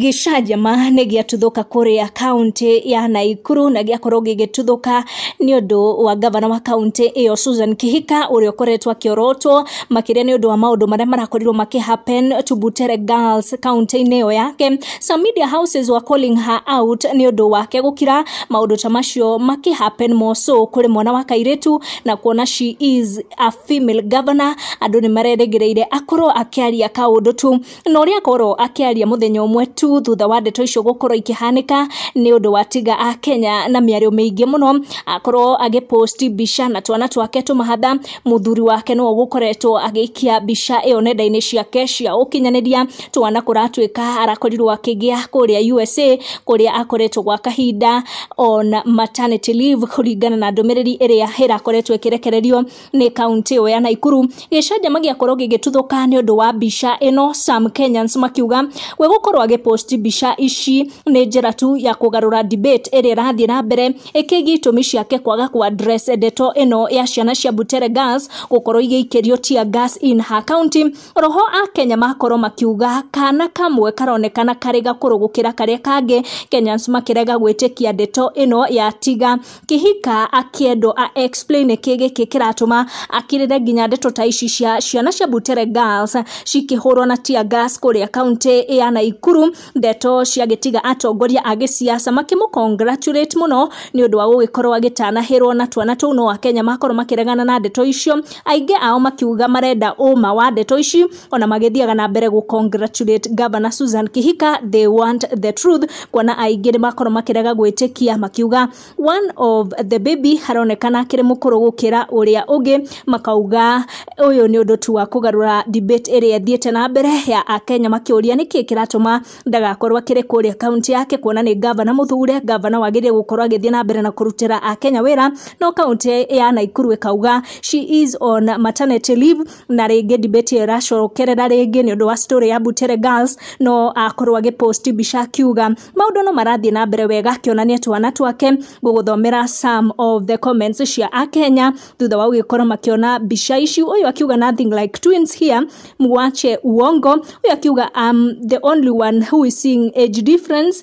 Gĩcanjama nĩ gĩatuthũka kũrĩa kauntĩ ya Naikuru na gĩakorwo gĩgĩtuthũka nĩ ũndũ wa ngavana wa kauntĩ ĩyo Susan Kĩhika ũrĩa ũkoretwo akĩorotwo makĩria nĩ ũndũ wa maũndũ marĩa marakorirwo makĩ happen to Butere Girls kauntĩ-inĩ ĩyo yake. Some media houses were calling her out nĩ ũndũ wake gũkira maũndũ ta macio makĩ happen more so kũrĩ mwana wa kairĩtu na kuona she is a female governor andũ nĩ marerĩgĩrĩire akorwo akĩaria kaũndũ tu. na ũrĩa akorwo akĩaria mũthenya ũmwe tu thutha wa ndeto icio gũkorwo ikĩhanĩka nĩ ũndũ wa tiga a kenya na mĩario mĩingĩ mũno akorwo agĩposti mbica na twana twake tũmahatha mũthuri wake nĩwe ũgũkoretwo agĩikia mbica ĩyo nenda-inĩ ciake cia ũkinyanĩria twana kũratuĩka arakorirwo akĩgĩa kũrĩa usa kũrĩa akoretwo gwa kahinda on maternity leave kũringana na ndũmĩrĩri ĩrĩa ĩrakoretwo ĩkĩrekererio nĩ kaunti ĩyo ya Naikuru gĩcanjama gĩakorwo gĩgĩtuthũka nĩ ũndũ wa mbica ĩno Sam Kenyans makiuga we gũkorwo agĩposti mbica ici nĩ njĩra tu ya kũgarũra debate ĩrĩa ĩrathiĩ na mbere ĩkĩgiĩ itũmi ciake kwaga kwa address ndeto ĩno ya ciana cia Butere Girls gũkorwo igĩikĩrio tear gas in her county roho a Kenya makorwo makiuga kana kamwe karonekana karĩ gakũrũ gũkĩra karĩa kangĩ Kenyans makĩrega gwĩtĩkia ndeto ĩno ya tiga kĩhika akĩendwo a explain nĩkĩ gĩkĩ kĩratũma akirĩre nginya ndeto ta ici cia ciana cia Butere Girls cikĩhũrwo na tear gas kũrĩa kaunti ya Naikuru, ndeto ciagĩtiga atongoria a gĩsiasa makĩmũ congratulate mũno nĩ ũndũ wa gũgĩkorwo agĩtanahĩrwo na twana tũu no akenya makorwo makĩregana na ndeto icio, aingĩ ao makiuga marenda ũma wa ndeto ici ona magĩthiaga na mbere gũ congratulate governor Susan Kihika they want the truth kuona aingĩ nĩ makorwo makĩrega gwĩtĩkia makiuga one of the baby haronekana akĩrĩ mũkũrũ gũkĩra ũrĩa ũngĩ makauga ũyũ nĩ ũndũ tu wa kũgarũra debate ĩrĩa ĩthiĩte na mbere ya akenya makĩũria nĩkĩ kĩratũma ndagakorwo akĩrĩ kũrĩa kaunti yake kuona nĩ gavana mũthure gavana wagĩrĩire gũkorwo agĩthiĩ na mbere na kũrutĩra akenya wĩra no kaunti ya naikuru ĩkauga she is on maternity leave na rĩngĩ debate ĩyo ĩracokerera rĩngĩ nĩ ũndũ wa story ya Butere Girls no akorwo agĩ post mbica akiuga maũndũ no marathiĩ na mbere wega akĩonania twana twake gũgũthomera some of the comments cia akenya thutha wa gũgĩkorwo makĩona mbica ici ũyũ akiuga nothing like twins here mwache uongo ũyũ akiuga I'm the only one who is seeing age difference